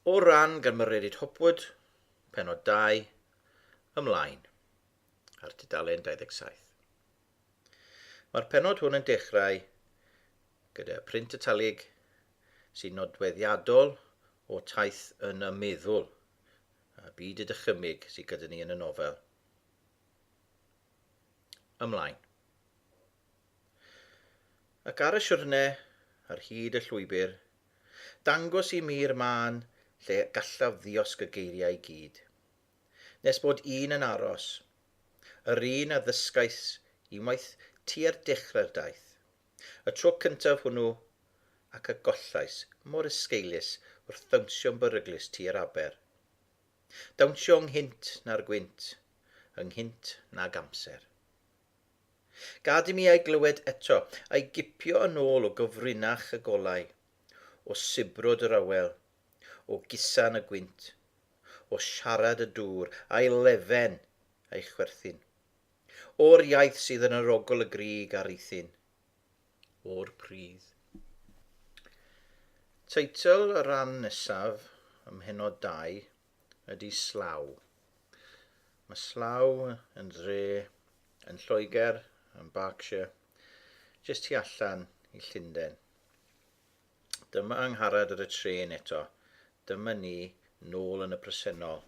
O ran gan Mererid Hopwood, pennod 2, ymlaen, ar dudalen 27. Mae'r pennod hwn yn dechrau gyda print italig sy'n nodweddiadol o taith yn y meddwl a byd y dychymyg sydd gyda ni yn y nofel. Ymlaen. Ac ar y siwrne, ar hyd y llwybr, dangos i mi'r mân lle gallaf ddiosg y geiriau i gyd. Nes bod un yn aros. Yr un a ddysgais unwaith tua'r dechrau'r daith. Y tro cyntaf hwnnw, ac a gollais mor esgeulus wrth ddawnsio'n beryglus tua'r aber. Dawnsio ynghynt na'r gwynt, ynghynt nag amser. Gad i mi ei glywed eto, a'i gipio yn ôl o gyfrinach y golau, o sibrwd yr awel, o gusan y gwynt, o siarad y dŵr, a'i lefen, a'i chwerthin. O'r iaith sydd yn yr ogl y grug a rithyn. O'r pridd. Teitl y rhan nesaf, ym mhennod dau, ydy Slough. Mae Slough yn dre yn Lloegr, yn Berkshire, jyst tu allan i Llundain. Dyma angharad ar y tren eto, dyma ni nôl yn y presennol.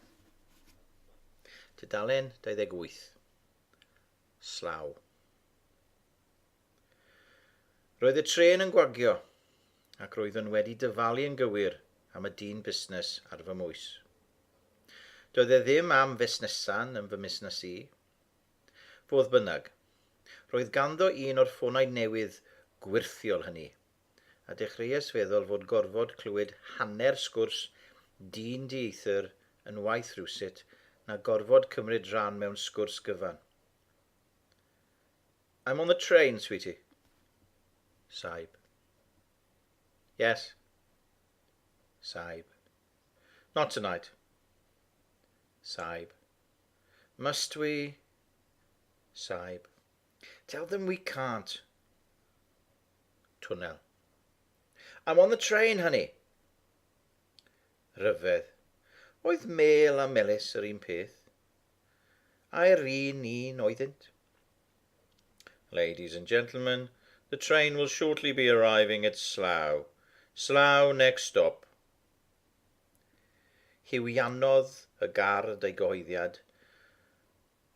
Tudalen 28. Slough. Roedd y tren yn gwagio. ac roeddwn wedi dyfalu yn gywir am y dyn busnes ar fy mhwys. Doedd e ddim am fusnesan yn fy musnes i. Fodd bynnag, roedd ganddo un o'r ffonau newydd gwyrthiol hynny, a dechreuais feddwl fod gorfod clywed hanner sgwrs dyn dieithr yn waeth rywsut na gorfod cymryd rhan mewn sgwrs gyfan. I'm on the train, sweetie. Saib. Yes. Saib. Not tonight. Saib. Must we? Saib. Tell them we can't. Tunnel. I'm on the train, honey. Ryfedd. Oedd Mel a Melis yr un peth? Ai'r un un oeddynt? Ladies and gentlemen, the train will shortly be arriving at Slough. Slough next stop. Hiwiannodd y gard ei gyhoeddiad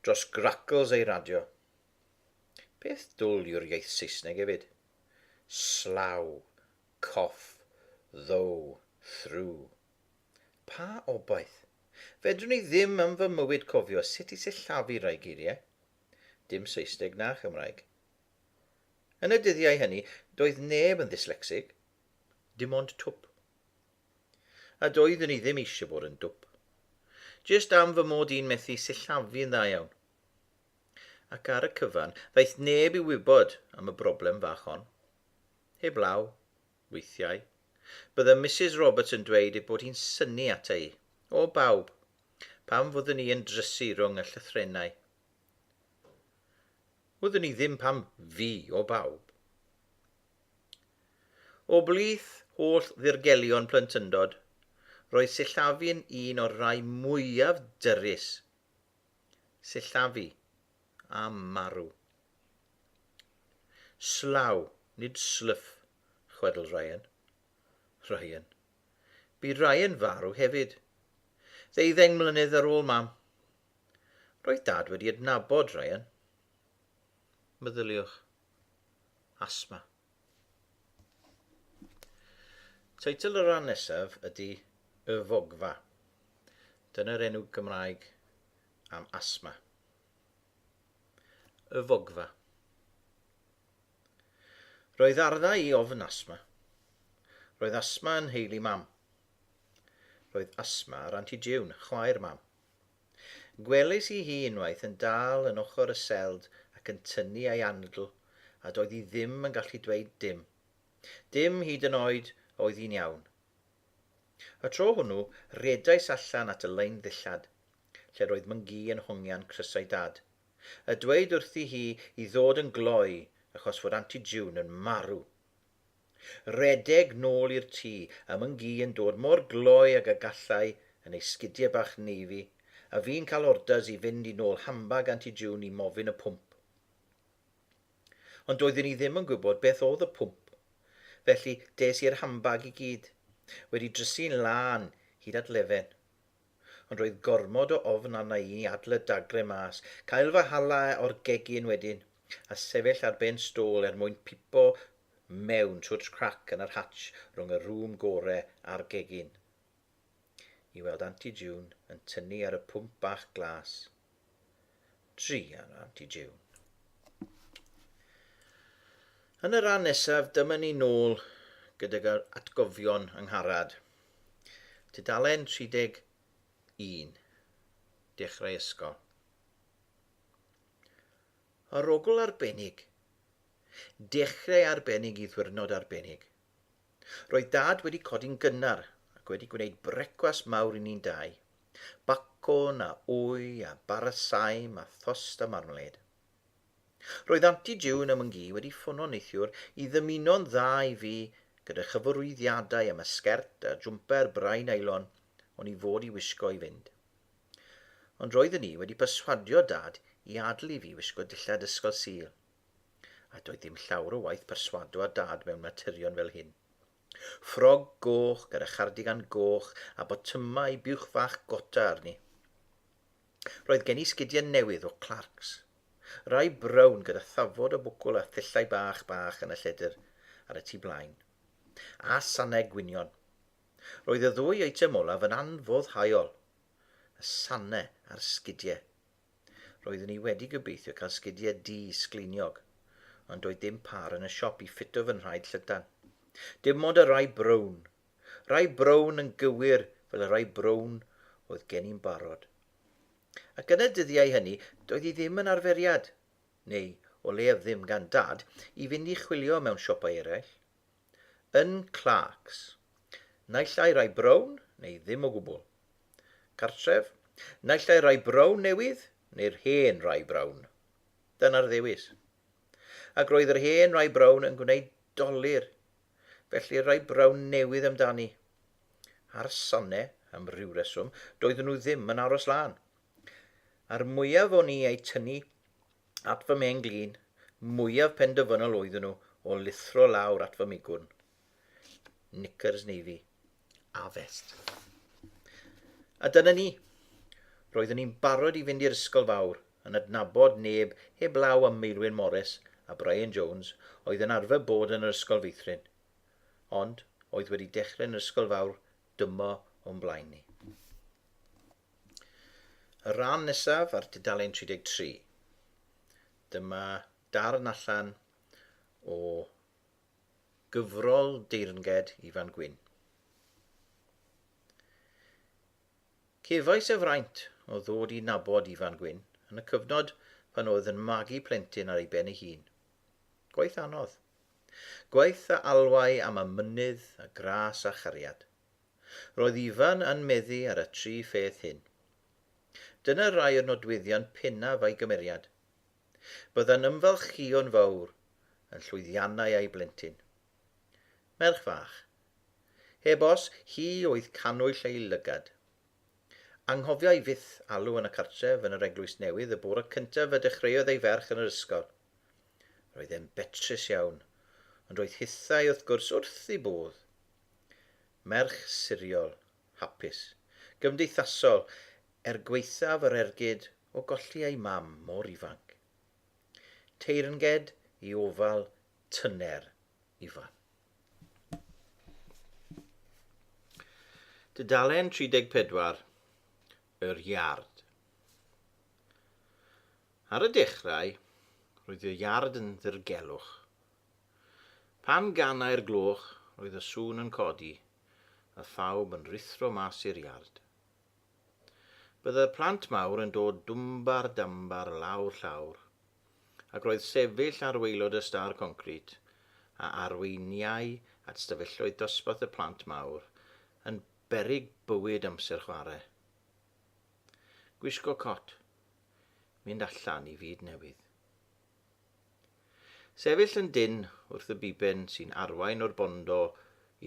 dros gracls ei radio. Peth dwl yw'r iaith Saesneg efyd. Slough, cough, though, through. Pa obaith? Fedrwn i ddim yn fy mywyd cofio sut i sillafu rai geiriau. Dim Saesneg na Chymraeg. Yn y dyddiau hynny, doedd neb yn ddyslecsig. Dim ond twp. A doeddwn i ddim eisiau bod yn dwp. Jyst am fy mod i'n methu sillafu yn dda iawn. Ac ar y cyfan, ddaeth neb i wybod am y broblem fach hon. Heb law, Weithiau, bydde Misus Roberts yn dweud ei bod hi'n synnu ata i, o bawb, pan fyddwn i yn drysu rhwng y llythrennau. Wyddwn i ddim pam fi, o bawb. O blith holl ddirgelion plentyndod, roedd sillafu'n un o'r rhai mwyaf dyrys Sillafu, a marw. Slaw, nid slwff, chwedl Ryan. Ryan. Bu Ryan farw hefyd. Ddeuddeng mlynedd ar ôl mam. Roedd dad wedi adnabod Ryan. Meddyliwch. Asthma. Teitl y rhan nesaf ydy Y Fogfa. Dyna'r enw Gymraeg am asthma. Y Fogfa. Roedd arddau i ofn asthma. Roedd asthma yn nheulu mam. Roedd asthma ar Anti June, chwaer mam. Gwelais i hi unwaith yn dal yn ochr y seld ac yn tynnu ei anadl, a doedd hi ddim yn gallu dweud dim. Dim hyd yn oed a oedd hi'n iawn. Y tro hwnnw, rhedais allan at y lein ddillad, lle roedd Mwngi yn hongian crysau Dad, a dweud wrthi hi i ddod yn gloi achos fod Aunty June yn marw! Rhedeg nôl i'r tŷ, a Mwngi yn dod mor gloi ag y gallai yn ei sgidie bach navy, a fi'n cael orders i fynd i nôl handbag Auntie June i mofyn y pwmp. Ond doeddwn i ddim yn gwybod beth oedd y pwmp, felly des i'r handbag i gyd, wedi drysu'n lân hyd at lefen. Ond roedd gormod o ofn arna i adle dagrau mas, cael fy hala o'r gegin wedyn, a sefyll ar ben stôl er mwyn pipo mewn trwy'r crac yn yr hatsh rhwng y rŵm gore a'r gegin, i weld Anti June yn tynnu ar y pwmp bach glas. 3 ar Aunty June. Yn y rhan nesaf, dyma ni nôl gydag yr atgofion yng Ngharad. Tudalen 31. Dechrau ysgol. Arogl arbennig. Dechrau arbennig i ddwyrnod arbennig. Roedd Dad wedi codi'n gynnar ac wedi gwneud brecwast mawr i ni'n dau. Bacwn a wy a bara saim a thost a marmalêd. Roedd Anti June a Mwngi wedi ffono neithiwr i ddymuno'n dda i fi gyda chyfarwyddiadau am y sgert a jwmper brau nylon o'n i fod i wisgo i fynd. Ond roeddwn i wedi perswadio Dad i adel i fi wisgo dillad Ysgol Sul. A doedd dim llawr o waith perswado â Dad mewn materion fel hyn. Ffrog goch gyda chardigan goch a botymau buwch fach gota arni. Roedd gen i sgidiau newydd o Clarks. Rai brown gyda thafod o bwcwl a thyllau bach bach yn y lledr ar y tu blaen. A sanau gwynion. Roedd y ddwy eitem olaf yn anfoddhaol. Y sanau a'r sgidiau. Roeddwn i wedi gobeithio cael sgidiau du sgleiniog, ond doedd dim pâr yn y siop i ffito fy nhraed llydan. Dim ond y rai brown. Rai brown yn gywir fel y rai brown oedd gen i'n barod. Ac yn y dyddiau hynny, doedd hi ddim yn arferiad, neu o leiaf ddim gan Dad, i fynd i chwilio mewn siopau eraill. yn Clarks, naill ai rai brown neu ddim o gwbl. Cartref, naill ai rai brown newydd neu'r hen rai brown. Dyna'r ddewis. Ac roedd yr hen rai brown yn gwneud dolur, felly'r rai brown newydd amdani. A'r sane, am ryw reswm, doedden nhw ddim yn aros lan. A'r mwyaf o'n i eu tynnu at fy mhen glin, mwyaf penderfynol oeddwn nhw o lithro lawr at fy migwrn. Knickers navy a fest. A dyna ni. Roeddwn i'n barod i fynd i'r ysgol fawr, yn adnabod neb heb law am Meilwyn Morris a Brian Jones oedd yn arfer bod yn yr ysgol feithrin. Ond, oedd wedi dechrau yn yr ysgol fawr dymo o'n blaen ni. Y rhan nesaf ar dudalen 33. Dyma darn allan o gyfrol deyrnged Ifan Gwyn. Cefais y fraint o ddod i nabod Ifan Gwyn yn y cyfnod pan oedd yn magu plentyn ar ei ben ei hun. Gwaith anodd, Gwaith a alwai am y mynydd a gras a chariad. Roedd Ifan yn meddu ar y tri pheth hyn. Dyna rai o'r nodweddion pennaf a'i gymeriad. Bydda'n ymfalchïo'n fawr yn llwyddiannau a'i blentyn. Merch fach. Heb os, hi oedd cannwyll ei lygad. Anghofiai fyth alw yn y cartref yn yr Eglwys Newydd y bore cyntaf y dechreuodd ei ferch yn yr ysgol. Roedd e'n betrus iawn, ond roedd hithau wrth gwrs wrth ei bodd. Merch siriol, hapus, gymdeithasol, er gwaethaf yr ergyd o golli ei mam mor ifanc. Teyrnged i ofal tyner ifan. Dudalen 34, Yr Iard. Ar y dechrau, roedd y iard yn ddirgelwch. Pan ganai'r gloch, roedd y sŵn yn codi, a phawb yn rhuthro mas i'r iard. Byddai'r plant mawr yn dod dwmbar dambar lawr llawr, ac roedd sefyll ar waelod y star concrit a arweiniai at stafelloedd dosbarth y plant mawr yn beryg bywyd amser chwarae. Gwisgo cot. Mynd allan i fyd newydd. Sefyll yn dynn wrth y biben sy'n arwain o'r bondo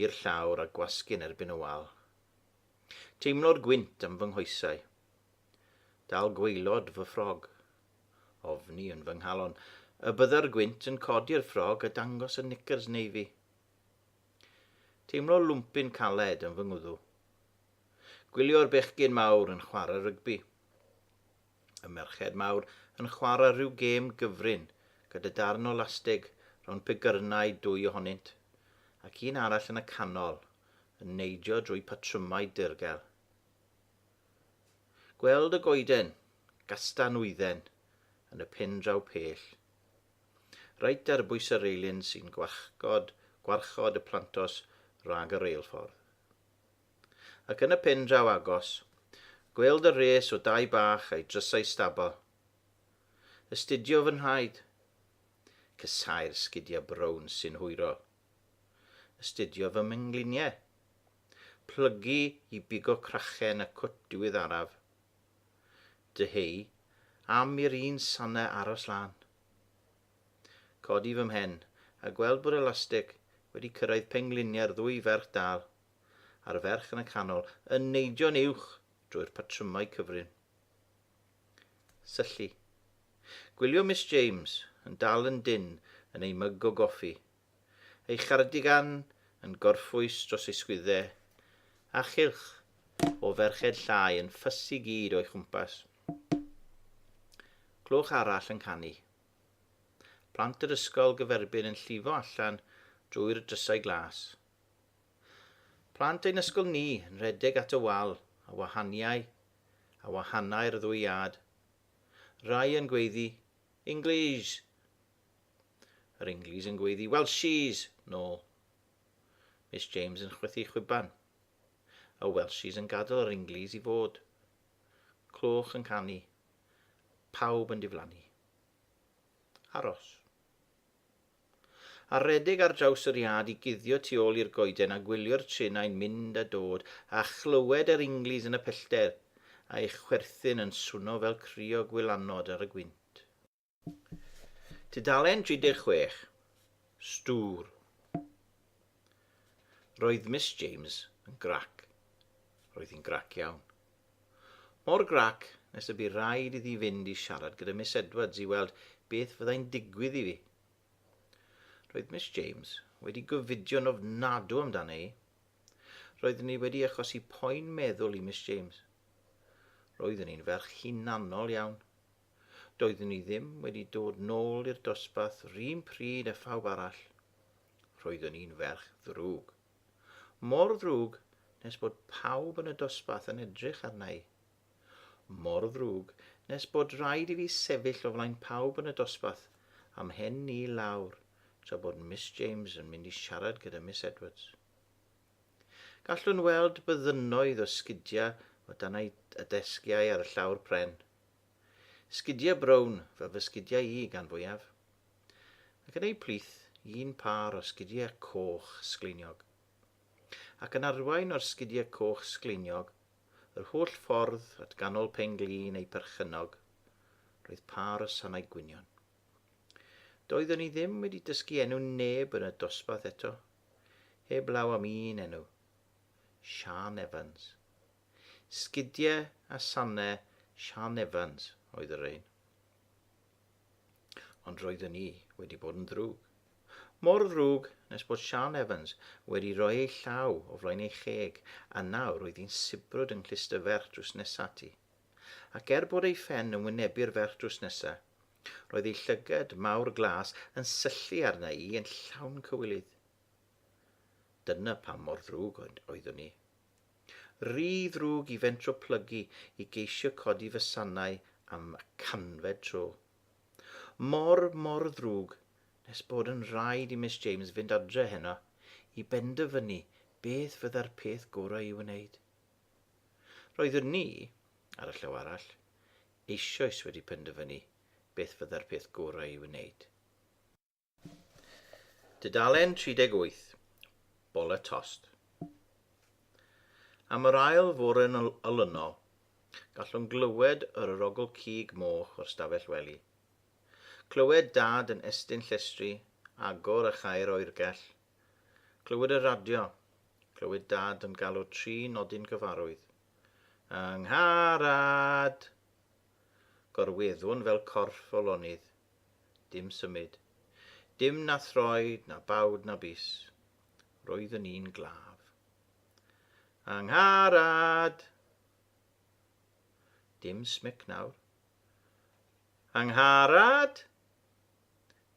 i'r llawr a gwasgu'n erbyn y wal. Teimlo'r gwynt am fy nghoesau. Dal gwaelod fy ffrog. Ofni yn fy nghalon y bydda'r gwynt yn codi'r ffrog a dangos y knickers navy. Teimlo lwmpyn caled yn fy ngwddw. Gwylio'r bechgyn mawr yn chwarae rygbi. Y merched mawr yn chwarae rhyw gêm gyfrin gyda darn o lasteg rownd pegyrnau dwy ohonynt, ac un arall yn y canol yn neidio drwy patrymau dirgel. Gweld y goeden, gasta nwydden, yn y pen draw pell. Reit ar bwys y reilyn sy'n gwarchod, gwarchod y plantos rhag y reilffordd. Ac yn y pen draw agos, gweld y rhes o dai bach a'i drysau stabal. Astudio fy nhraed. Casau'r sgidiau brown sy'n hwyrol. Astudio fy mhengliniau. Plygu i bigo crachen y cwt diweddaraf. Dyheu am i'r un sanau aros lan. Codi fy mhen, a gweld bod elastig wedi cyrraedd pengliniau'r ddwy ferch dal, a'r ferch yn y canol, yn neidio'n uwch drwy'r patrymau cyfrin. Syllu. Gwylio Miss James yn dal yn dynn yn ei myg o goffi, ei chardigan yn gorffwys dros ei sgwyddau, a chylch o ferched llai yn ffys i gyd o'i chwmpas. Clwch arall yn canu. Plant yr ysgol gyferbyn yn llifo allan drwy'r drysau glas. Plant ein ysgol ni yn rhedeg at y wal a wahaniau a wahanau'r ddwy iâd. Rai yn gweiddi, Inglis! Yr Inglis yn gweiddi, Welshis! nôl. Miss James yn chwythu chwiban. Y Welshis yn gadael yr Inglis i fod. Clwch yn canu. Pawb yn diflannu. Aros. A rhedeg ar draws yr iard i guddio tu ôl i'r goeden a gwylio'r trenau'n mynd a dod a chlywed yr Inglis yn y pellter, a'u chwerthin yn swno fel crio gwylanod ar y gwynt. Tudalen 36, Stŵr. Roedd Miss James yn grac. Roedd hi'n grac iawn. Mor grac nes y bu rhaid iddi fynd i siarad gyda Miss Edwards i weld beth fyddai'n digwydd i fi. Roedd Miss James wedi gyfudio'n ofnadw amdano i. Roeddwn ni wedi achosi poen meddwl i Miss James. Roeddwn ni'n ferch hunanol iawn. Doeddwn i ddim wedi dod nôl i'r dosbarth run pryd a phawb arall. Roeddwn i'n ferch ddrwg. Mor ddrwg nes bod pawb yn y dosbarth yn edrych arna i. Mor ddrwg nes bod rhaid i fi sefyll o flaen pawb yn y dosbarth a'm hen ni lawr tra bod Miss James yn mynd i siarad gyda Miss Edwards. Gallwn weld byddynnoedd o sgidiau o dan y desgiau ar y llawr pren. Sgidiau brown, fel fy sgidiau i gan fwyaf. Ac yn eu plith, un pâr o sgidiau coch sgleiniog. Ac yn arwain o'r sgidiau coch sgleiniog, yr holl ffordd at ganol pen-glin eu perchennog, roedd pâr o sanau gwynion. Doeddwn i ddim wedi dysgu enw neb yn y dosbarth eto, heb law am un enw. Siân Evans. Sgidie a sane Siân Evans oedd y rhein. Ond roeddwn i wedi bod yn ddrwg. Mor ddrwg nes bod Siân Evans wedi rhoi ei llaw o flaen ei cheg a nawr oedd hi'n sibrwd yng nghlust y ferch drws nesa ti. Ac er bod ei phen yn wynebu'r ferch drws nesa, roedd ei llygad mawr glas yn syllu arna i yn llawn cywilydd. Dyna pam mor ddrwg oeddwn i. Rhy ddrwg i fentro plygu i geisio codi fy sanau am y canfed tro. Mor, mor ddrwg nes bod yn rhaid i Miss James fynd adre heno i benderfynu beth fydda'r peth gorau i'w wneud. Roeddwn ni, ar y llaw arall, eisoes wedi penderfynu beth fydda'r peth gorau i'w wneud. Dudalen 38, Bola Tost. Am yr ail fore yn olynol, gallwn glywed yr orogl cig moch o'r stafell wely. Clywed dad yn estyn llestri agor a chau'r oergell. Clywed y radio. Clywed dad yn galw tri nodyn gyfarwydd. Yng Ngharad! Gorweddwn fel corff o lonydd Dim symud. Dim na throed, na bawd, na bys. Roeddwn i'n glaf. Angharad! Dim smic nawr. Angharad!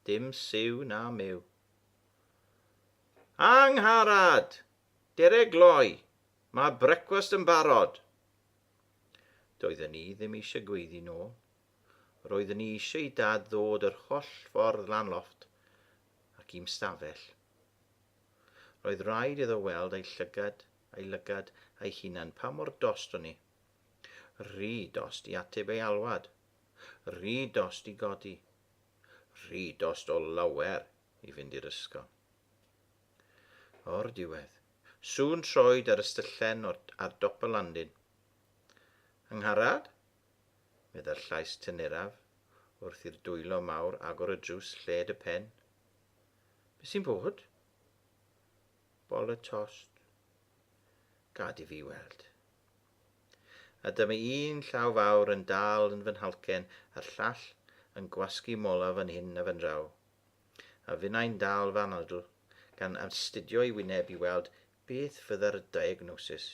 Dim siw na myw. Angharad! Dere gloi! Mae brecwast yn barod! Doeddwn i ddim eisiau gweiddi nôl. Roeddwn i eisiau i Dad ddod yr holl ffordd lan lofft ac i'm stafell. Roedd rhaid iddo weld ei llygad, ei lygad, ei hunan pa mor dost o'n i. Rhy dost i ateb ei alwad. Rhy dost i godi. Rhy dost o lawer i fynd i'r ysgol. O'r diwedd, sŵn troed ar ystyllen ar dop y landin. Angharad? meddai'r llais tyneraf wrth i'r dwylo mawr agor y drws lled y pen. Be sy'n bod? Bol y tost. Gad i fi weld. A dyma un llaw fawr yn dal yn fy nhalcen a'r llall yn gwasgu mola fan hyn a fan draw. A finnau'n dal fy anadl gan astudio i wyneb i weld beth fydda'r diagnosis.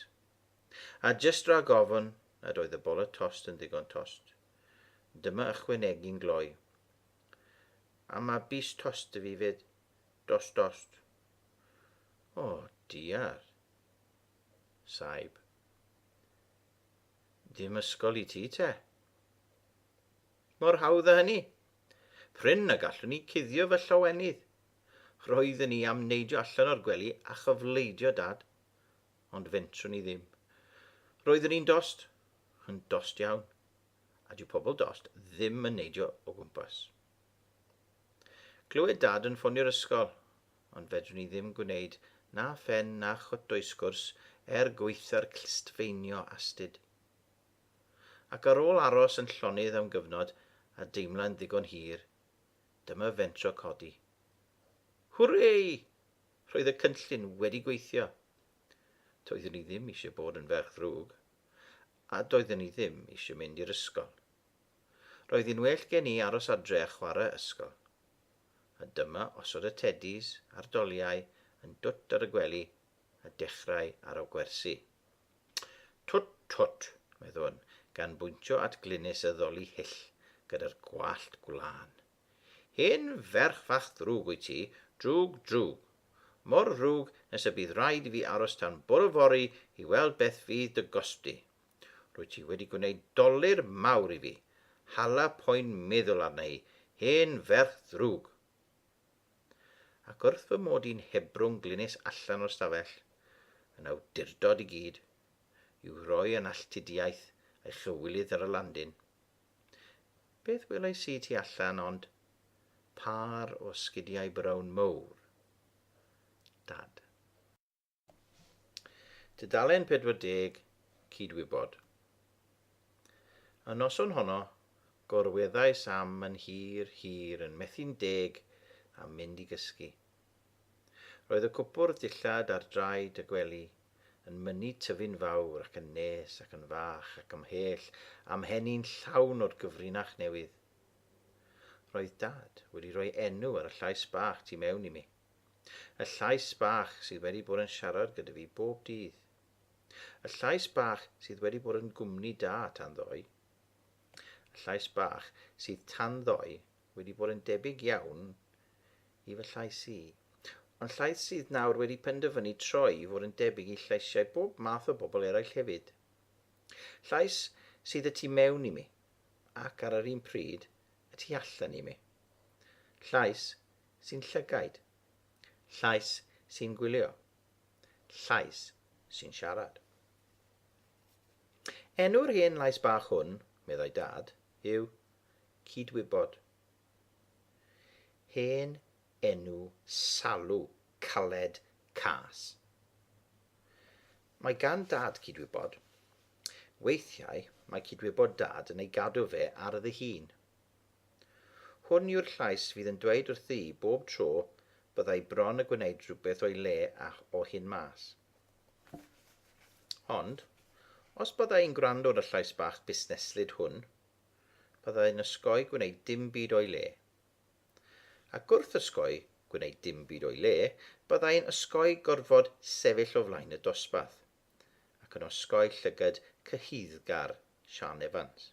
A jyst rhag ofn nad oedd y bola tost yn ddigon tost, dyma ychwanegu'n gloi, A ma bys tost 'da fi 'fyd, dost dost. O, diar. Saib. Dim ysgol i ti te. Mor hawdd a hynny. Prin na gallwn i cuddio fy llawenydd. Roeddwn i am neidio allan o'r gwely a chyfleidio Dad, ond fentrwn i ddim. Roeddwn i'n dost, yn dost iawn, a dyw pobl dost ddim yn neidio o gwmpas. Clywed dad yn ffonio'r ysgol, ond fedrwn i ddim gwneud na phen na chotdoesgwrs er gweitha'r clustfeinio astyd. Ac ar ôl aros yn llonydd am gyfnod a deimlau'n ddigon hir, dyma fentro codi. Hwrei! Roedd y cynllun wedi gweithio. Doeddwn i ddim eisiau bod yn ferch ddrwg, a doeddwn i ddim eisiau mynd i'r ysgol. Roedd hi'n well gen i aros adre a chwarae ysgol. A dyma osod y teddis a'r doliau yn dwt ar y gwely a dechrau aro gwersi. Twt, twt, meddwn, gan bwyntio at Glynis y ddoli hyll gyda'r gwallt gwlân. Hen ferch fach ddrwg wyt ti, drwg, drwg. Mor ddrwg nes y bydd rhaid i fi aros tan bore fory i weld beth fydd dy gosb di. Rwyt ti wedi gwneud dolur mawr i fi. Hala poen meddwl arna i, hen ferch ddrwg! Ac wrth fy mod i'n hebrwng glynis allan o'r stafell, yn awdurdod i gyd, i'w roi yn alltudiaeth ei chywilydd ar y landin, Beth welais i tu allan ond pâr o sgidiau brown mowr. Dad. Tudalen 40 Cydwybod. Y noson honno, gorweddais am yn hir, hir yn methu'n deg am mynd i gysgu. Roedd y cwpwrdd dillad ar draed y gwely yn mynnu tyfu'n fawr ac yn nes ac yn fach ac ymhell â'm mhen i'n llawn o'r gyfrinach newydd. Roedd Dad wedi rhoi enw ar y llais bach tu mewn i mi. Y llais bach sydd wedi bod yn siarad gyda fi bob dydd. Y llais bach sydd wedi bod yn gwmni da tan ddoe. Y llais bach sydd tan ddoe wedi bod yn debyg iawn i fy llais i. Ond llais sydd nawr wedi penderfynu troi i fod yn debyg i llaisiau bob math o bobl eraill hefyd. Llais sydd y tu mewn i mi, ac ar yr un pryd, y tu allan i mi. Llais sy'n llygaid. Llais sy'n gwylio. Llais sy'n siarad. Enw'r hen lais bach hwn, meddai Dad, yw cydwybod. Hen enw Salw, Caled Cas. Mae gan Dad cydwybod. Weithiau mae cydwybod Dad yn ei gadw fe ar ddihun. Hwn yw'r llais fydd yn dweud wrthi bob tro byddai bron y gwneud rhywbeth o'i le a o hyn mas. Ond, os byddai'n gwrando ar y llais bach busneslyd hwn, Byddai'n osgoi gwneud dim byd o'i le. Ac wrth osgoi gwneud dim byd o'i le, byddai'n osgoi gorfod sefyll o flaen y dosbarth, ac yn osgoi llygad cyhuddgar Siân Evans,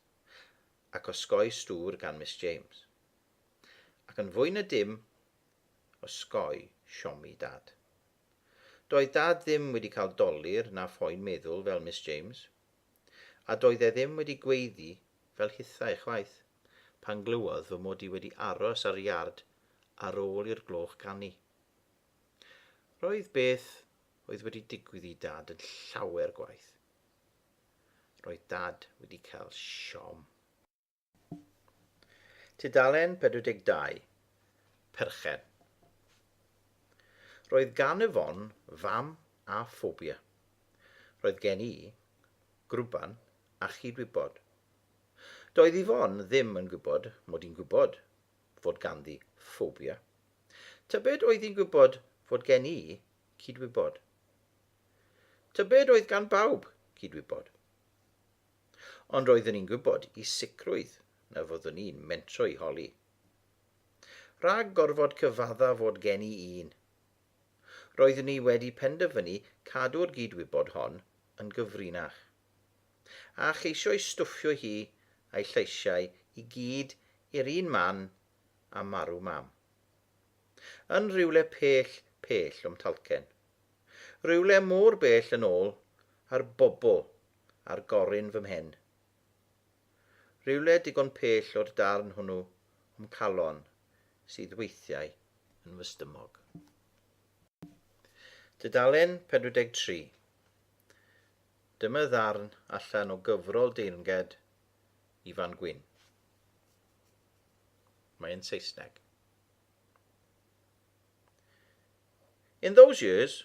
ac osgoi stŵr gan Miss James. Ac yn fwy na dim, osgoi siomi Dad. Doedd Dad ddim wedi cael dolur na phoen meddwl fel Miss James. a doedd e ddim wedi gweiddi fel hithau chwaith, pan glywodd fy mod i wedi aros ar y iard ar ôl i'r gloch ganu. Roedd beth oedd wedi digwydd i Dad yn llawer gwaeth. Roedd Dad wedi cael siom. Tudalen 42, Perchen. Roedd gan Yvonne fam â ffobia. Roedd gen i grwban a chyd-wybod. Doedd Yvonne ddim yn gwybod mod i'n gwybod fod ganddi ffobia. Tybed oedd hi'n gwybod fod gen i cyd-wybod? Tybed oedd gan bawb cyd-wybod? Ond roeddwn i'n gwybod i sicrwydd na fyddwn i'n mentro i Holly. Rhag gorfod cyfadda fod gen i un. Roeddwn i wedi penderfynu cadw'r gyd-wybod hon yn gyfrinach. A cheisio'i stwffio hi a'i lleisiau i gyd i'r un man a marw Mam. Yn rhywle pell, pell o'm talcen. Rhywle mor bell yn ôl â'r bobl ar gorun fy mhen. Rywle digon pell o'r darn hwnnw o'm calon sydd weithiau yn fy stumog. Dudalen 43. Dyma ddarn allan o gyfrol deyrnged i fan Gwyn. Mae yn Saesneg. In those years,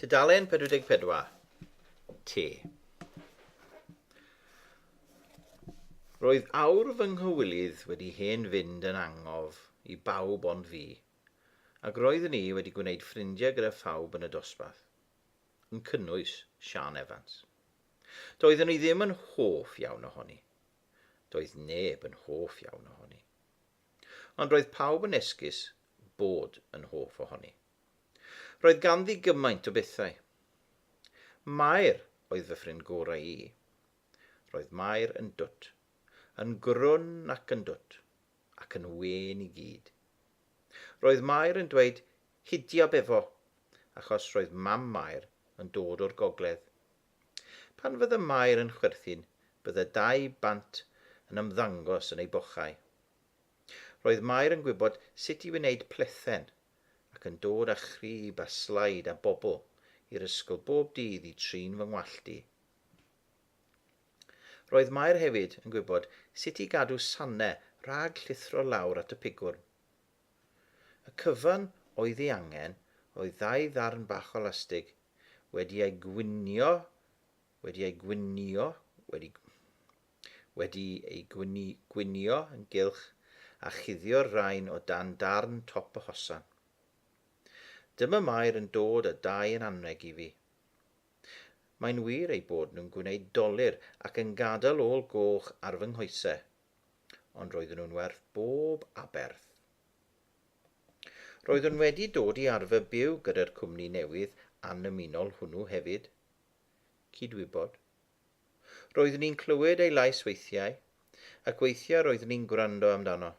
Tudalen 44. Te. Roedd awr fy nghywilydd wedi hen fynd yn angof i bawb ond fi, ac roeddwn i wedi gwneud ffrindiau gyda phawb yn y dosbarth, yn cynnwys Siân Evans. Doeddwn i ddim yn hoff iawn ohoni. Doedd neb yn hoff iawn ohoni. Ond roedd pawb yn esgus bod yn hoff ohoni. Roedd ganddi gymaint o bethau. Mair oedd fy ffrind gorau i. Roedd Mair yn dwt. Yn grwn ac yn dwt. Ac yn wên i gyd. Roedd Mair yn dweud 'Hidiab efo! achos roedd mam Mair yn dod o'r gogledd. Pan fydd y Maer yn chwerthin, bydd y dau bant yn ymddangos yn ei bochau. Roedd Maer yn gwybod sut i wneud plethen ac yn dod â chrib a slaid a bobl i'r ysgol bob dydd i trin fy ngwallt i. Roedd Maer hefyd yn gwybod sut i gadw sane rhag llithro lawr at y pigwrn. Y cyfan oedd ei angen oedd ddau ddarn bach o lastig wedi ei gwinio, wedi ei gwinio, wedi, wedi ei gwini, gwinio yn gylch a chuddio'r rain o dan darn top y hosan. Dyma Mair yn dod a dau yn anrheg i fi. Mae'n wir eu bod nhw'n gwneud dolur ac yn gadael ôl goch ar fy nghoesau, ond roedden nhw'n werth bob aberth. Roeddwn wedi dod i arfer byw gyda'r cwmni newydd annymunol hwnnw hefyd. Cydwybod. Roeddwn i'n clywed ei lais weithiau, ac weithiau roeddwn i'n gwrando amdano.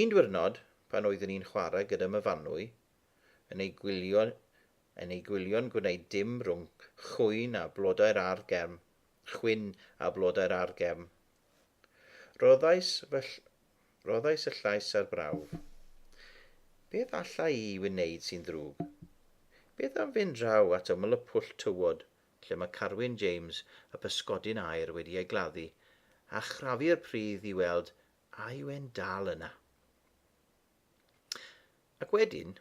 Un diwrnod, pan oeddwn i'n chwarae gyda myfanwy, yn ei gwylio yn ei gwylio'n gwneud dim rhwng chwyn a blodau'r ardd gefn, chwyn a blodau'r argefn. Rhoddais fy Rhoddais y llais a'r brawf. Beth alla i wneud sy'n ddrwg? Beth am fynd draw at ymyl y pwll tywod lle mae Carwyn James y pysgodyn aer wedi ei gladdu a chrafu'r pridd i weld a yw e'n dal yna? Ac wedyn,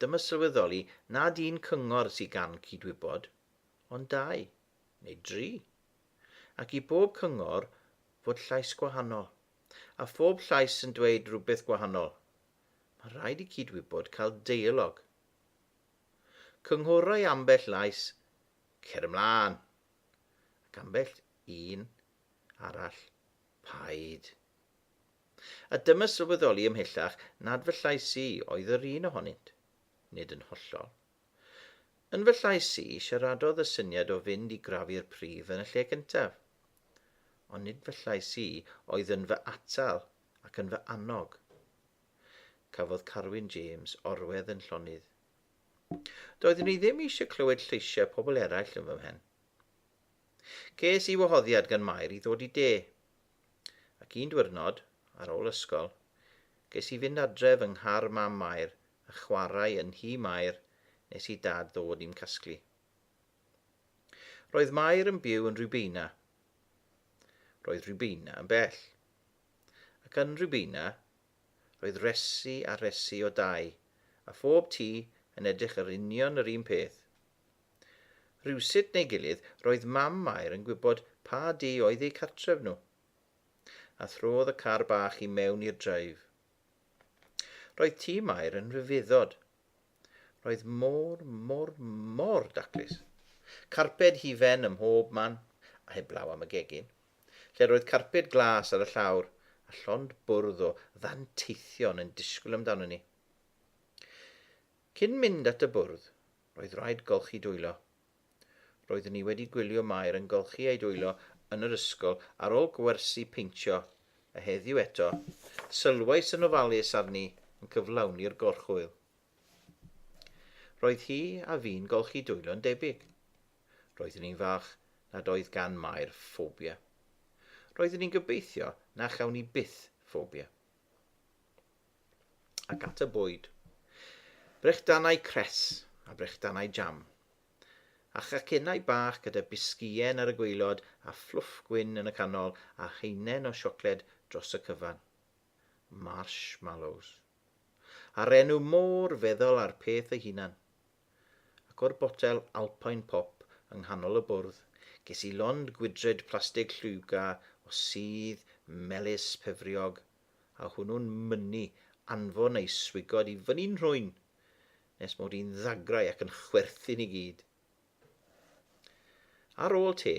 dyma sylweddoli nad un cyngor sydd gan cydwybod, ond dau. neu dri, ac i bob cyngor fod llais gwahanol, a phob llais yn dweud rhywbeth gwahanol, mae rhaid i cyd-wybod cael deialog. Cynghorau ambell lais, cer ymlaen, ac ambell un arall, paid. A dyma sylweddoli ymhellach nad fy llais i oedd yr un ohonynt, nid yn hollol. Yn fy llais i, siaradodd y syniad o fynd i grafu'r pridd yn y lle gyntaf. Ond nid fy llais i oedd yn fy atal ac yn fy annog. Cafodd Carwyn James orwedd yn llonydd. Doeddwn i ddim eisiau clywed lleisiau pobl eraill yn fy mhen. Ces i wahoddiad gan Mair i ddod i de. Ac un diwrnod, ar ôl ysgol, ges i fynd adref yng nghar mam Mair a chwarae yn nhŷ Mair nes i Dad ddod i'm casglu. Roedd Mair yn byw yn Rubeina. Roedd Rubeina yn bell. Ac yn Rubeina, roedd resi a resi o dai, a phob tŷ yn edrych yr union yr un peth. Rhywsut neu gilydd, roedd mam Mair yn gwybod pa dŷ oedd eu cartref nhw. A throdd y car bach i mewn i'r dreif, Roedd tîm Mair yn rhyfeddod. Roedd mor, mor, mor daclus. Carped hufen ym mhob man, a heblaw am y gegin, lle roedd carped glas ar y llawr, a llond bwrdd o ddanteithion yn disgwyl amdano ni. Cyn mynd at y bwrdd, roedd rhaid golchi dwylo. Roeddwn i wedi gwylio Mair yn golchi ei dwylo yn yr ysgol ar ôl gwersi peintio, a heddiw eto, sylwais yn ofalus arni yn cyflawni'r gorchwyl. Roedd hi a fi'n golchi dwylo yn debyg. Roeddwn i'n falch nad oedd gan Mair ffobia. Roeddwn i'n gobeithio na chawn i byth ffobia. ac at y bwyd. Brechdanau cres a brechdanau jam. A chacennau bach gyda bisgïen ar y gwaelod a fflwff gwyn yn y canol a haenen o siocled dros y cyfan. Marshmallows. A'r enw mor feddal â'r peth ei hunan. Ac o'r botel Alpine Pop yng nghanol y bwrdd, ges i lond gwydred plastig llwyga o sudd melys pefriog a hwnnw'n mynnu anfon ei swigod i fyny'n nhrwyn, nes mod i'n ddagrau ac yn chwerthin i gyd. Ar ôl te,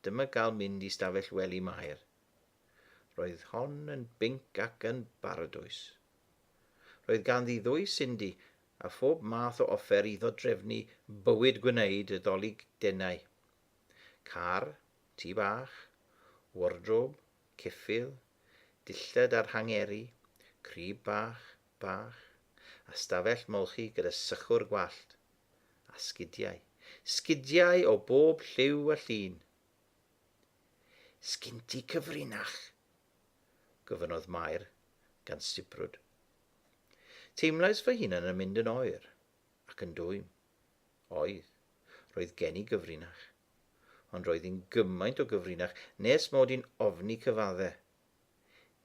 dyma gael mynd i stafell wely Mair. Roedd hon yn binc ac yn baradwys. Roedd ganddi ddwy Cindy a phob math o offer i ddodrefnu bywyd gwneud y ddolig denau. Car, tŷ bach, wardrob, ceffyl, dillad ar hangeri, crib bach, bach, a stafell molchi gyda sychwr gwallt. A sgidiau. Sgidiau o bob lliw a llun. Sgin ti cyfrinach? gofynnodd Mair, gan sibrwd. Teimlais fy hunan yn mynd yn oer, ac yn dwym. Oedd. Roedd gen i gyfrinach. ond roedd hi'n gymaint o gyfrinach nes mod i'n ofni cyfadde.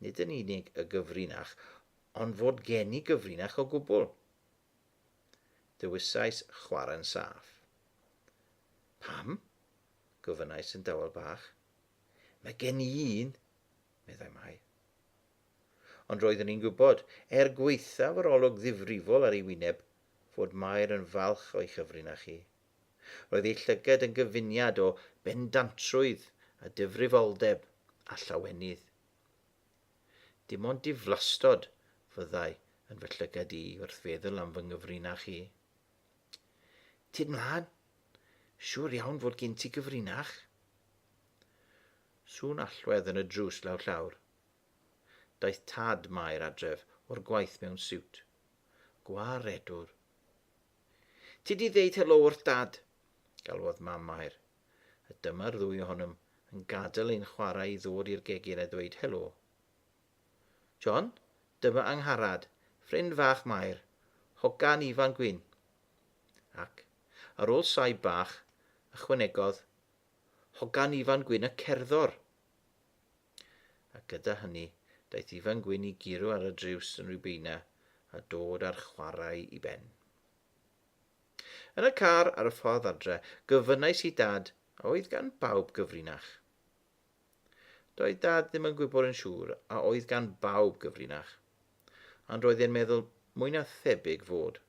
Nid yn unig y gyfrinach, ond fod gen i gyfrinach o gwbl. Dewisais chwarae'n saff. Pam? gofynnais yn dawel bach. Mae gen i un, meddai Mai. Ond roeddwn i'n gwybod, er gwaethaf yr olwg ddifrifol ar ei wyneb, fod Mair yn falch o'i chyfrinach hi. Roedd ei llygad yn gyfuniad o bendantrwydd a difrifoldeb a llawenydd. Dim ond diflastod fyddai yn fy llygad i wrth feddwl am fy nghyfrinach i. Tyd mlaen! Siŵr iawn fod gen ti gyfrinach. Sŵn allwedd yn y drws law llawr. Daeth tad Mair adref o'r gwaith mewn siwt. Gwaredwr. Ti 'di ddeud helo wrth Dad! galwodd Mam Mair, a dyma'r ddwy ohonom yn gadael ein chwarae i ddod i'r gegin a ddweud helo. John, dyma Angharad, ffrind fach Mair, hogan Ifan Gwyn. Ac, ar ôl saib bach, ychwanegodd, Hogan Ifan Gwyn y cerddor! A gyda hynny, daeth Ifan Gwyn i guro ar y driws yn Rubeina a dod â'r chwarae i ben. Yn y car ar y ffordd adre, gofynnais i Dad a oedd gan bawb gyfrinach. Doedd Dad ddim yn gwybod yn siŵr a oedd gan bawb gyfrinach, ond roedd e'n meddwl mwy na thebyg fod.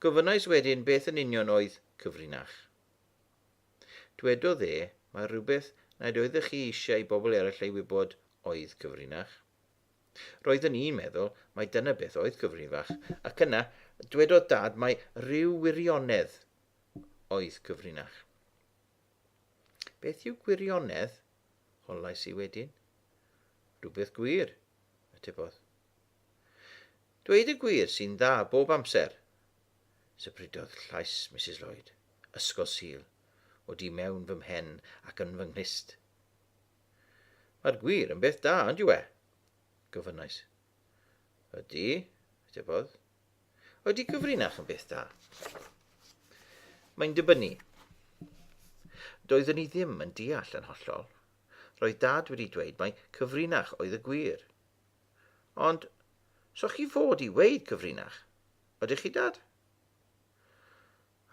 Gofynnais wedyn beth yn union oedd cyfrinach. Dwedodd e, mae rhywbeth nad oeddech chi eisiau i bobl eraill ei wybod oedd cyfrinach. Roeddwn i'n meddwl mai dyna beth oedd cyfrinach, ac yna dwedodd Dad mai rhyw wirionedd oedd cyfrinach. Beth yw gwirionedd? Hollais i wedyn. Rhywbeth gwir, atebodd. Dweud y gwir sy'n dda bob amser, Sybrydodd llais Misus Lloyd, Ysgol Sul, o du mewn fy mhen ac yn fy nghlust. Mae'r gwir yn beth da, ond yw e? Gofynnais. Ydy, atebodd. Ydy gyfrinach yn beth da? Mae'n dibynnu. Doeddwn i ddim yn deall yn hollol. Roedd dad wedi dweud mai cyfrinach oedd y gwir. Ond, so chi fod i weid cyfrinach? Ydych chi, Dad?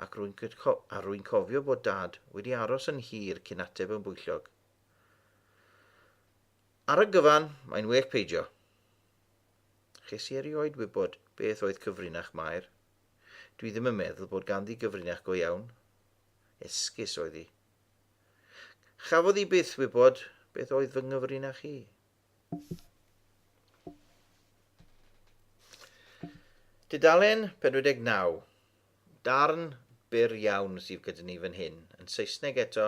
Ac rwy'n co a rwy'n cofio bod Dad wedi aros yn hir cyn ateb yn bwyllog. Ar y gyfan, mae'n well peidio. Ches i erioed wybod beth oedd cyfrinach Mair. Dwi ddim yn meddwl bod ganddi gyfrinach go iawn. Esgus oedd hi. Chafodd hi byth wybod beth oedd fy nghyfrinach i. Dudalen 49. Darn byr iawn sydd gyda ni fan hyn, yn Saesneg eto,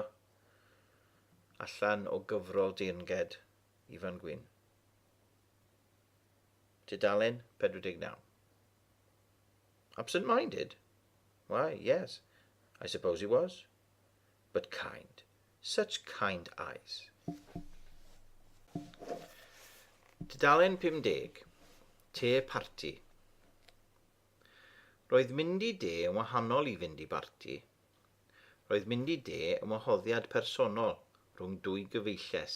allan o gyfrol deyrnged Ifan Gwyn. Dudalen 49. Absent-minded? Why, yes, I suppose he was. But kind. Such kind eyes. Tudalen 50. Te parti. Roedd mynd i de yn wahanol i fynd i barti. Roedd mynd i de yn wahoddiad personol rhwng dwy gyfeilles.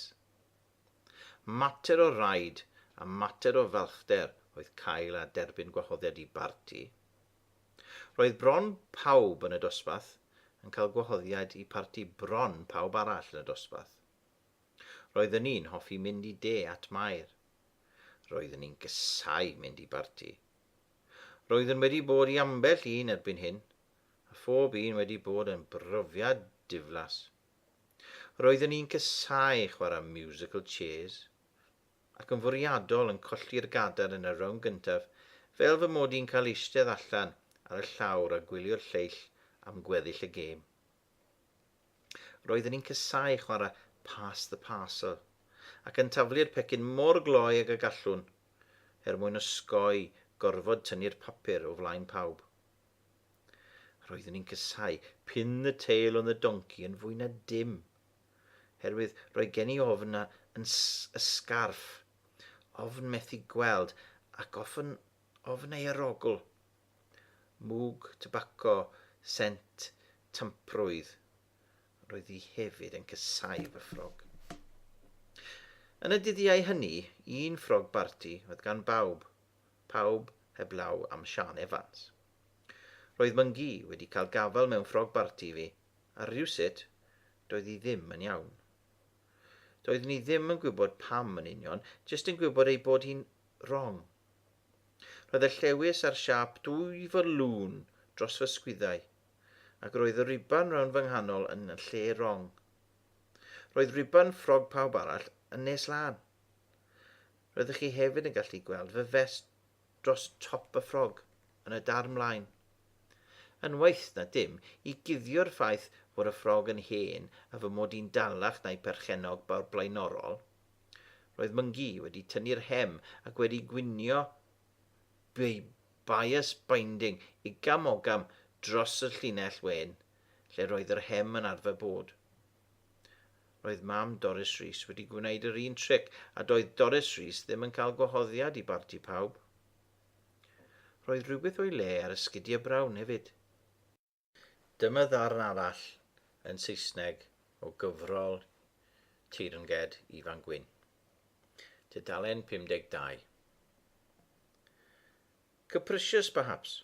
Mater o raid a mater o falchder oedd cael a derbyn gwahoddiad i barti. Roedd bron pawb yn y dosbarth yn cael gwahoddiad i parti bron pawb arall yn y dosbarth. Roeddwn ni'n hoffi mynd i de at Mair. Roeddwn ni'n casáu mynd i barti. Roeddwn wedi bod i ambell un erbyn hyn, a phob un wedi bod yn brofiad diflas. Roeddwn ni'n casáu chwarae musical chairs. ac yn fwriadol yn colli'r gadair yn y rownd gyntaf fel fy mod i'n cael eistedd allan ar y llawr a gwylio'r lleill am gweddill y gêm. Roeddwn i'n casáu chwarae pass the parcel ac yn taflu'r pecyn mor gloi ag y gallwn er mwyn osgoi gorfod tynnu'r papur o flaen pawb. Roeddwn i'n casáu pin the tail on the donkey yn fwy na dim. herwydd roedd gen i ofn a yn y sgarff, ofn methu gweld ac ofn ofn ei arogl. Mwg tybaco sent tamprwydd. Roedd hi hefyd yn casáu fy ffrog. Yn y dyddiau hynny, un ffrog barti oedd gan bawb, pawb heblaw am Siân Evans. Roedd Mwngi wedi cael gafael mewn ffrog barti i fi, A rhywsut, doedd hi ddim yn iawn. Doeddwn i ddim yn gwybod pam yn union, jyst yn gwybod ei bod hi'n wrong. Roedd y llewys a'r siâp dwy fylŵn dros fy sgwyddau, ac roedd y riban rownd fy nghanol yn y lle wrong. Roedd riban ffrog pawb arall yn nes lân. Roeddech chi hefyd yn gallu gweld fy fest dros Top y Ffrog yn y darn mlaen. Yn waeth na dim, i guddio'r ffaith fod y ffrog yn hen a fy mod i'n dalach na'i perchennog blaenorol, roedd Myngi wedi tynnu'r hem ac wedi gwinio ei bias binding igam ogam dros y llinell wen, lle roedd yr hem yn arfer bod. Roedd mam Doris Rees wedi gwneud yr un tric a doedd Doris Rees ddim yn cael gwahoddiad i barti pawb. Roedd rhywbeth o'i le ar y sgidiau brown hefyd. Dyma ddarn arall yn Saesneg o gyfrol teyrnged Ifan Gwyn. Tudalen 52. Capricious perhaps,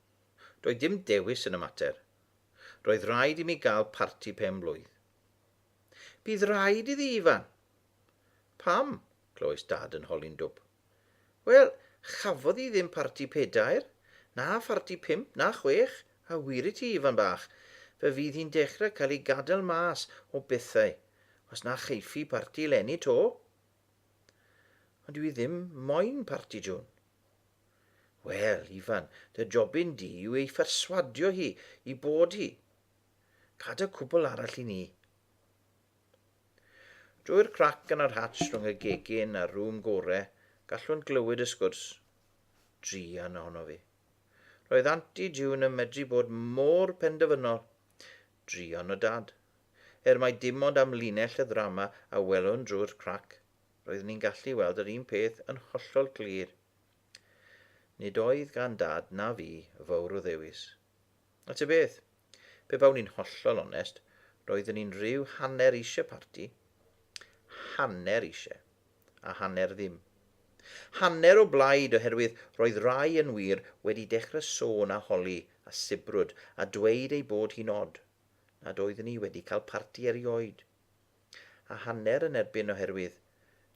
Doedd dim dewis yn y mater. Roedd rhaid i mi gael parti pen blwydd. Bydd rhaid iddi, Ifan! Pam? clywais Dad yn holi'n dwp. Wel, chafodd hi ddim parti pedair, na pharti pump, na chwech, a wir i ti, Ifan bach, fe fydd hi'n dechrau cael ei gadael mas o bethau os na cheifi parti eleni 'to. Ond dwi ddim moyn parti June. Wel, Ifan, dy jobyn di yw ei pherswadio hi i bod hi. Cad y cwbl arall i ni. Drwy'r crac yn yr hatch rhwng y gegin a'r rŵm gore, gallwn glywed y sgwrs. Drian ohono fi. Roedd Anti June yn medru bod mor penderfynol. Druan o Dad. Er mai dim ond amlinell y ddrama a welwn drwy'r crac, roeddwn ni'n gallu weld yr un peth yn hollol glir. Nid oedd gan Dad na fi fawr o ddewis. A ty beth, pe bawn i'n hollol onest, roeddwn i'n rhyw hanner eisiau parti. Hanner eisiau. a hanner ddim. Hanner o blaid oherwydd roedd rai yn wir wedi dechrau sôn a holi a sibrwd a dweud ei bod hi'n od nad oeddwn i wedi cael parti erioed. A hanner yn erbyn oherwydd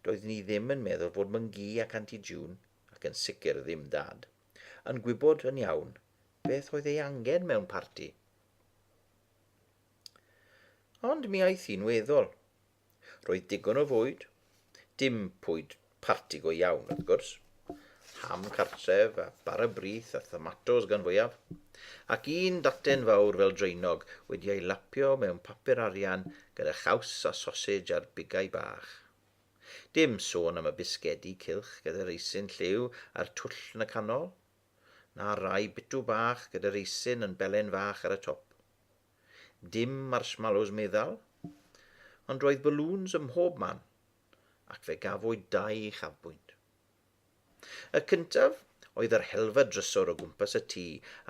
doeddwn i ddim yn meddwl fod Mwngi ac Anti June, ac yn sicr ddim Dad, yn gwybod yn iawn beth oedd ei angen mewn parti. Ond mi aeth hi'n weddol. Roedd digon o fwyd, dim pwyd parti go iawn wrth gwrs, ham cartref a bara brith a thomatos gan fwyaf, ac un daten fawr fel draenog wedi ei lapio mewn papur arian gyda chaws a sosej ar bigau bach. Dim sôn am y bisgedi cylch gyda reisyn lliw a'r twll yn y canol, na rai bitw bach gyda reisyn yn belen fach ar y top. Dim marshmallows meddal, ond roedd balŵns ym mhob man, ac fe gafwyd dau uchafbwynt. Y cyntaf oedd yr helfa drysor o gwmpas y tŷ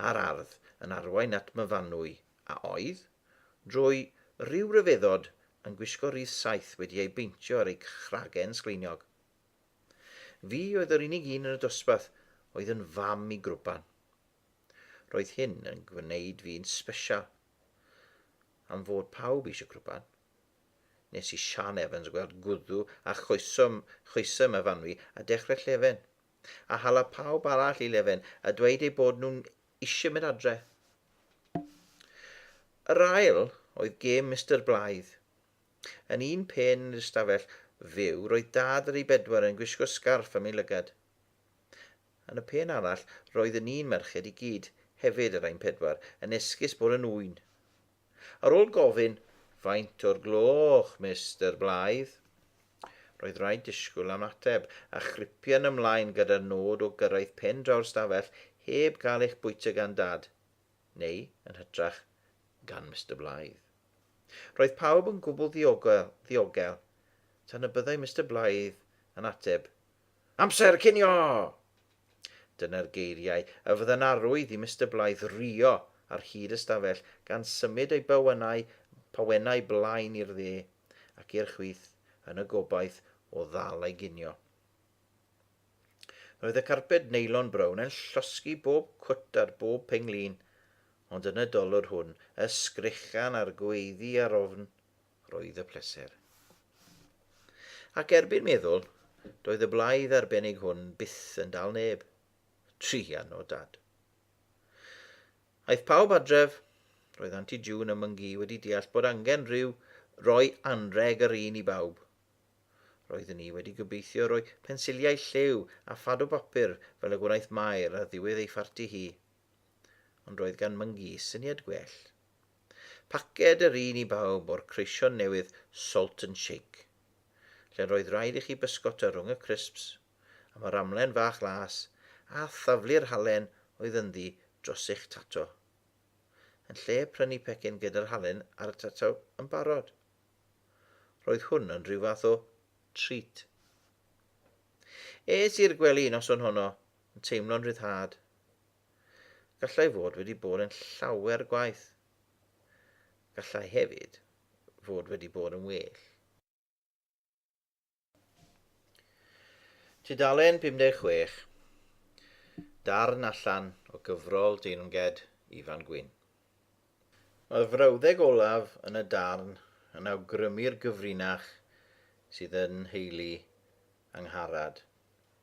a'r ardd yn arwain at Myfanwy a oedd, drwy ryw ryfeddod, yn gwisgo rith saeth wedi ei beintio ar ei chragen sgleiniog. Fi oedd yr unig un yn y dosbarth oedd yn fam i Grwban. Roedd hyn yn gwneud fi'n sbesial. Am fod pawb eisiau crwpan, nes i Siân Evans weld gwddw a choeswm, choesym y fanwy a dechrau llefen, a hala pawb arall i lefen a dweud eu bod nhw'n eisiau mynd adre. Yr ail oedd gêm Mister Blaidd. Yn un pen yn yr ystafell fyw roedd dad ar ei bedwar yn gwisgo sgarff am ei lygad. Yn y pen arall, roedd y ni'n merched i gyd, hefyd yr ein pedwar, yn esgus bod yn ŵyn. Ar ôl gofyn, Faint o'r gloch, Mister Blythe? roedd rhaid disgwyl am ateb, a chripian ymlaen gyda'r nod o gyrraedd pen draw'r stafell heb gael eich bwyta gan Dad, neu, yn hytrach, gan Mister Blythe. Roedd pawb yn gwbl ddiogel, ddiogel, tan y byddai Mister Blythe yn ateb, Amser cinio! Dyna'r geiriau a fydda'n arwydd i Mister Blythe rio ar hyd y stafell gan symud ei bawenau pawenau blaen i'r dde ac i'r chwith yn y gobaith o ddal ei ginio. Roedd y carped neilon brown yn llosgi bob cwt ar bob penglin, ond yn y dolwr hwn, y sgrechian a'r gweiddi ar ofn roedd y pleser. Ac erbyn meddwl, doedd y blaidd arbennig hwn byth yn dal neb. Trian o dad. Aeth pawb adref, roedd Anti June a Myngi wedi deall bod angen rhyw roi anreg yr un i bawb. Roedden ni wedi gobeithio roi pensiliau lliw a phad o bapur fel y gwnaeth Mair ar ddiwedd ei pharti hi. Ond roedd gan Myngi syniad gwell. Paced yr un i bawb o'r creision newydd Salt and Shake, lle'r oedd rhaid i chi bysgota rhwng y crisps am yr amlen fach las a thaflu'r halen oedd ynddi dros eich tato, yn lle prynu pecyn gyda'r halen ar y tato yn barod. Roedd hwn yn rhyw fath o treat. Es i'r gwely noson honno yn teimlo'n ryddhad. Gallai fod wedi bod yn llawer gwaith. Gallai hefyd fod wedi bod yn well. Tudalen 56, darn allan o gyfrol Deyrnged Ifan Gwyn. Mae'r frawddeg olaf yn y darn yn awgrymu'r gyfrinach sydd yn nheulu Angharad.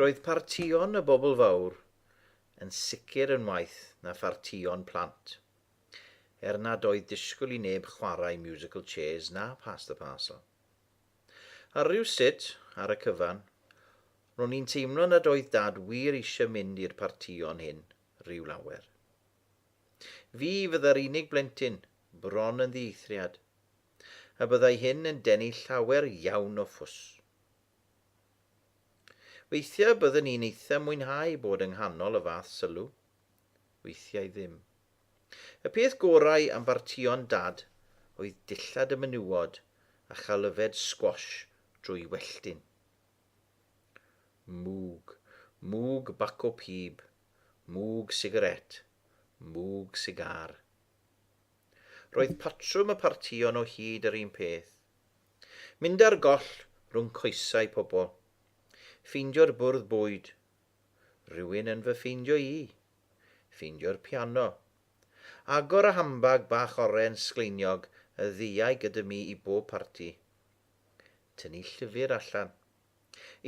Roedd partïon y bobl fawr yn sicr yn waeth na phartïon plant, er nad oedd disgwyl i neb chwarae musical chairs na pass the parcel. Ar rywsut, ar y cyfan, ro'n i'n teimlo nad oedd Dad wir eisiau mynd i'r partïon hyn ryw lawer. Fi fydda'r unig blentyn, bron yn ddieithriad. a byddai hyn yn denu llawer iawn o fws. Weithiau byddwn i'n eitha mwynhau bod yng nghanol y fath sylw. Weithiau ddim. Y peth gorau am bartïon Dad oedd dillad y menywod a chael yfed sgwash drwy welltyn. Mwg. Mwg baco pib. Mwg sigarét. Mwg sigar. Roedd patrwm y partïon o hyd yr un peth. Mynd ar goll rhwng coesau pobl. Ffeindio'r bwrdd bwyd. Rhywun yn fy ffeindio i. Ffeindio'r piano. Agor y hambag bach oren sgleiniog y ddeuai gyda mi i bob parti. Tynnu llyfr allan.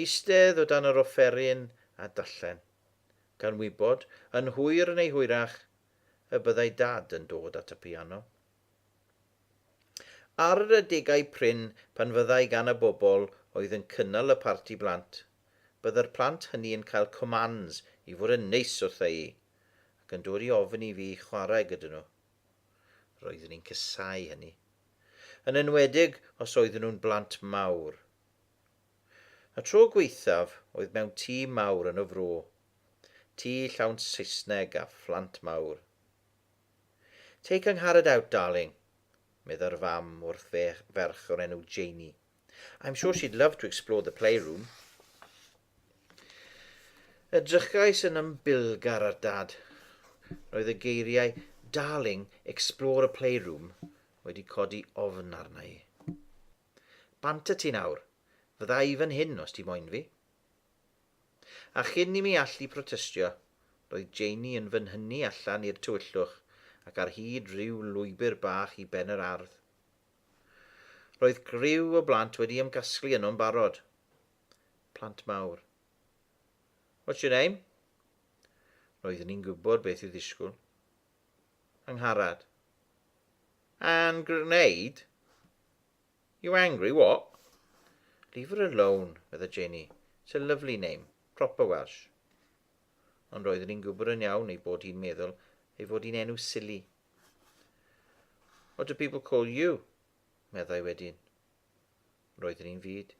Eistedd o dan yr offeryn a darllen. Gan wybod, yn hwyr neu hwyrach, y byddai Dad yn dod at y piano. Ar yr adegau prin pan fyddai gan y bobl oedd yn cynnal y parti blant, bydde'r plant hynny yn cael commands i fod yn neis wrtha'i, ac yn dod i ofyn i fi chwarae gyda nhw. Roeddwn i'n casáu hynny. Yn enwedig os oedden nhw'n blant mawr. Y tro gwaethaf oedd mewn tîm mawr yn y fro, Tŷ llawn Saesneg a phlant mawr. Take Angharad out, darling, meddai'r fam wrth ferch o'r enw Janie. I'm sure she'd love to explore the playroom. Edrychais yn ymbilgar ar dad. Roedd y geiriau Darling, explore a playroom wedi codi ofn arna i. Bant y ti nawr. Fydda i fan hyn os ti moyn fi. A chyn i mi allu protestio, roedd Janie yn fy nhynnu allan i'r tywyllwch ac ar hyd rhyw lwybr bach i ben yr ardd. Roedd criw o blant wedi ymgasglu yno'n barod. Plant mawr. What's your name? Roeddwn i'n gwybod beth i'w ddisgwyl. Angharad. And grenade? You angry, what? Leave her alone, medda Janie. It's a lovely name, proper Welsh. Ond roeddwn i'n gwybod yn iawn ei bod hi'n meddwl ei fod hi'n enw silly. What do people call you? meddai wedyn. Roeddwn i'n fyd.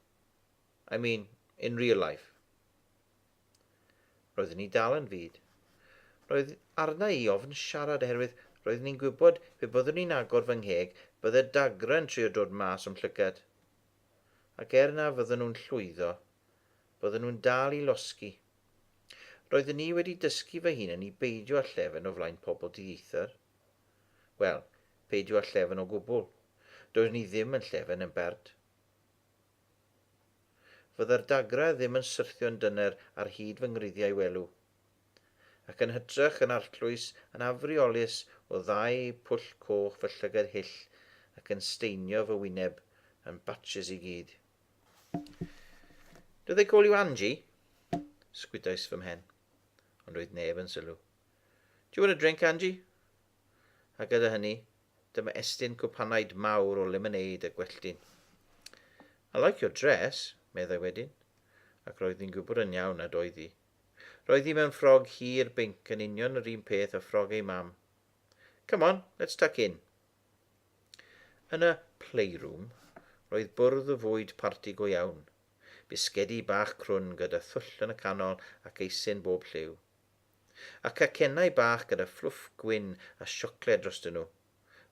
I mean, in real life. Roeddwn i dal yn fud. Roedd arna i ofn siarad oherwydd roeddwn i'n gwybod pe byddwn i'n agor fy ngheg bydde Dagra yn trio dod mas o'm llygad. Ac er na fydden nhw'n llwyddo, bydden nhw'n dal i losgi. Roeddwn i wedi dysgu fy hunan i beidio â llefen o flaen pobl dieithr. Wel, peidio â llefen o gwbl. Doeddwn i ddim yn llefen yn bert. Fydda'r dagrau ddim yn syrthio'n dyner ar hyd fy ngwreiddiau welw. Ac yn hytrach yn arllwys, yn afriolus o ddau pwll coch fy llygad hyll ac yn staenio fy wyneb yn batches i gyd. Do they call you Angie? Sgwydais fy mhen. Ond doedd neb yn sylw. Do you want a drink, Angie? A gyda hynny, Dyma estyn cwpanaid mawr o lemonêd a gwelltyn. I like your dress, meddai wedyn, ac roedd hi'n gwybod yn iawn nad oedd hi. Roedd hi mewn ffrog hir binc yn union yr un peth â ffrog ei mam. Come on, let's tuck in. Yn y playroom, roedd bwrdd o fwyd parti go iawn. Bisgedi bach crwn gyda thwll yn y canol ac eisin bob lliw. A cacennau bach gyda fluff gwyn a siocled drostyn nhw.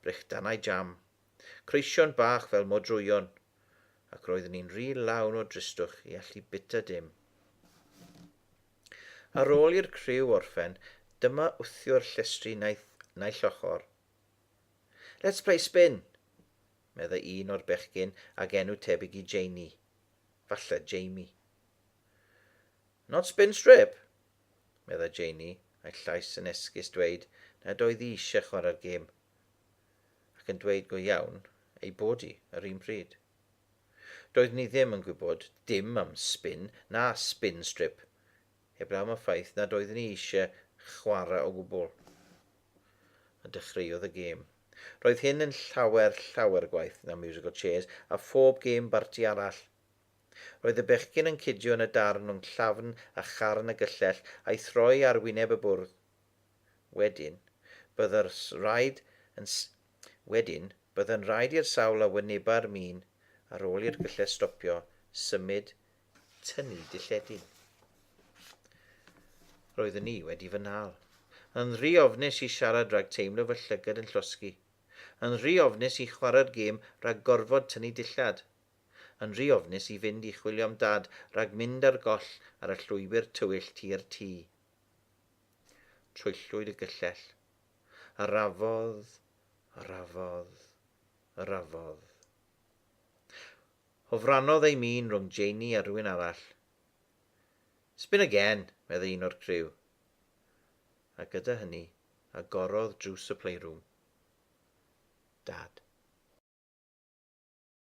Brechdanau jam. Creision bach fel modrwyon. Ac roeddwn i'n rhy lawn o dristwch i allu bita dim. Ar ôl i'r criw orffen, dyma wthiwr llestri naill, naill ochr. Let's play spin! meddai un o'r bechgyn ag enw tebyg i Janie. Falle Jamie. Not spin strip? meddai Janey, a'i llais yn esgus dweud nad oedd hi eisiau chwarae'r gêm, ac yn dweud go iawn ei bod hi yr un pryd. Doeddwn i ddim yn gwybod dim am spin na spin strip, heblaw am y ffaith nad oeddwn i eisiau chwarae o gwbl. A dechreuodd y gêm. Roedd hyn yn llawer, llawer gwaeth na musical chairs a phob gêm barti arall. Roedd y bechgyn yn cydio yn y darn rhwng llafn a charn y gyllell a'i throi ar wyneb y bwrdd. Wedyn, byddai'r rhaid yn Wedyn, byddai'n rhaid i'r sawl a wyneba'r min ar ôl i'r gyllell stopio symud tynnu dilledyn. Roeddwn i wedi fy nhal. Yn rhy ofnus i siarad rhag teimlo fy llygad yn llosgi. Yn rhy ofnus i chwarae'r gêm rhag gorfod tynnu dillad. yn rhy ofnus i fynd i chwilio am Dad rhag mynd ar goll ar y llwybr tywyll tua'r tŷ. Troellwyd y gyllell. A rafodd, a rafodd, a rafodd. Hofrannodd ei min rhwng Janey a rhywun arall. Spin again, meddai un o'r criw. A gyda hynny, agorodd drws y playroom. Dad.